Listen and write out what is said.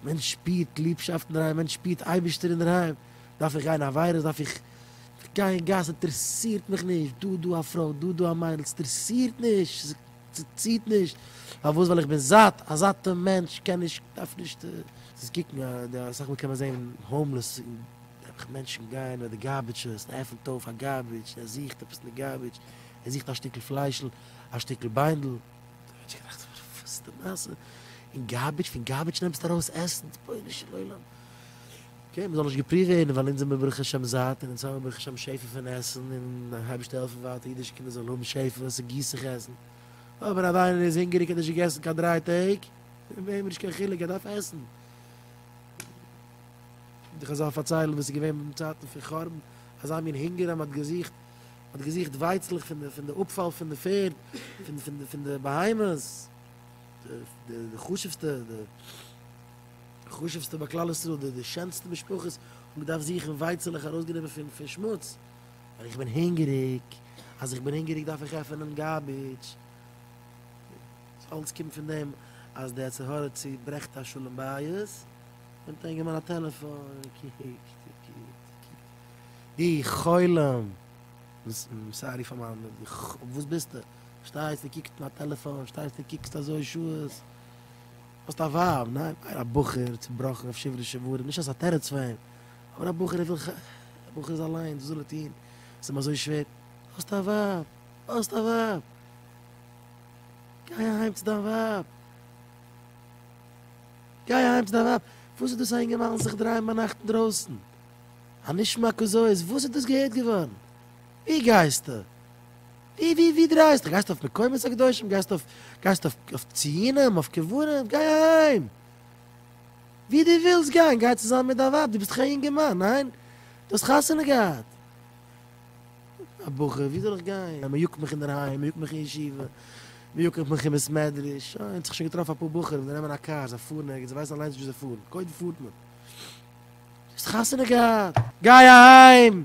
מען שפירט ליבשאפט אין דער היים, מען שפירט אייבערשטער אין דער היים, דארף איך גיין עבירות, דארף איך גיין אין גאס, אינטערעסירט מיך נישט, דא דא א פרוי, דא דא א מיידל, ס'אינטערעסירט נישט, ס'ציט נישט, פארוואס? ווייל איך בין זאט, א זאטע מענטש קען נישט, דארף נישט, זיס קוקן, אסאך מאל קען מען זען האומלעס, נעבעך מענטשן גייען ביי די גארביטשעס, ער עפענט אויף א גארביטש, ער זוכט עפעס אין די גארביטש, ער זוכט א שטיקל פליישל, א שטיקל ביינדל. גארביטש גערעכט פאר די פוסטע מעשה אין גארביטש פון גארביטש נעמסטו ארויס עסן רבונו של עולם קען מען זאל נישט געפריוו ווערן ווייל אונז זעמיר ברוך השם זאט און אונז האמיר ברוך השם שפע פון עסן און הייבשט העלפן ווייטער אידישע קינדער זאלן האבן שפע און ס'גיסט זיך עסן אויב אן אריינער איז הונגעריג האט נישט געגעסן קיין דריי טעג איז אים נישט קיין חילוק ער דארף עסן די חזל פארציילן וואס איז געווען אין צייטן פון חורבן אזא מין הונגער אז מען האט געזוכט האט געזוכט ווייצלעך פון די פון די אפפאל פון די פערד, פון פון די פון די בהמות, די די חשוב'סטע די חשוב'סטע ביי כלל ישראל, די די שענסטע משפחות האבן געדארפט זוכן ווייצלעך ארויסגענומען פון פון שמוץ, ווייל איך בין הונגעריג, אז איך בין הונגעריג דארף איך עפענען גארביטש, דאס אלץ קומט פון דעם אז די יצר הרע צוברעכט א שלום בית, נעמט א אינגערמאן א טעלעפאן און קוקט און קוקט און קוקט. די חולם! סארי פאר מיין וואס ביסטע? שטייסטע קוקסט אין א טעלעפאן, שטייסטע קוקסט אזוי שעות. האסט א ווייב, ניין? ניין, א בחור צובראכן אויף שוברי שברים, נישט אז ס'א תירוץ פאר אים, אבער א בחור ער וויל ח ו, א בחור איז אליינס, וואס זאל ער טון? ס'איז אים אזוי שווער. האסט א ווייב! האסט א ווייב! גיי אהיים צו דיין ווייב! גיי אהיים צו דיין ווייב! וואס איז דאס א אינגערמאן זיך דרייען ביינאכט אינדרויסן? א נשמע כזאת, וואס איז דאס געהערט געווארן? ווי גייסטו? ווי ווי ווי דרייסטו? גייסטו אויף מקומות הקדושים? גייסטו אויף גייסטו אויף אויף ציונים? אויף קברים? גיי אהיים! ווי דו ווילסט גיין, גיי צוזאמען מיט דיין ווייב, דו ביסט דאך א אינגערמאן, ניין? דו האסט חתונה געהאט. א בחור, ווי זאל איך גיין? מען יאגט מיך אינדערהיים, מען יאגט מיך אין ישיבה, מען יאגט מיך אין בית מדרש, שוין, האט זיך שוין געטראפן אפאר בחורים, זיי נעמען א קאר, זיי פארן ערגעץ, זיי ווייסן אליינס וואו זיי פארן, קודם פארט מען. האסט חתונה געהאט? גיי אהיים!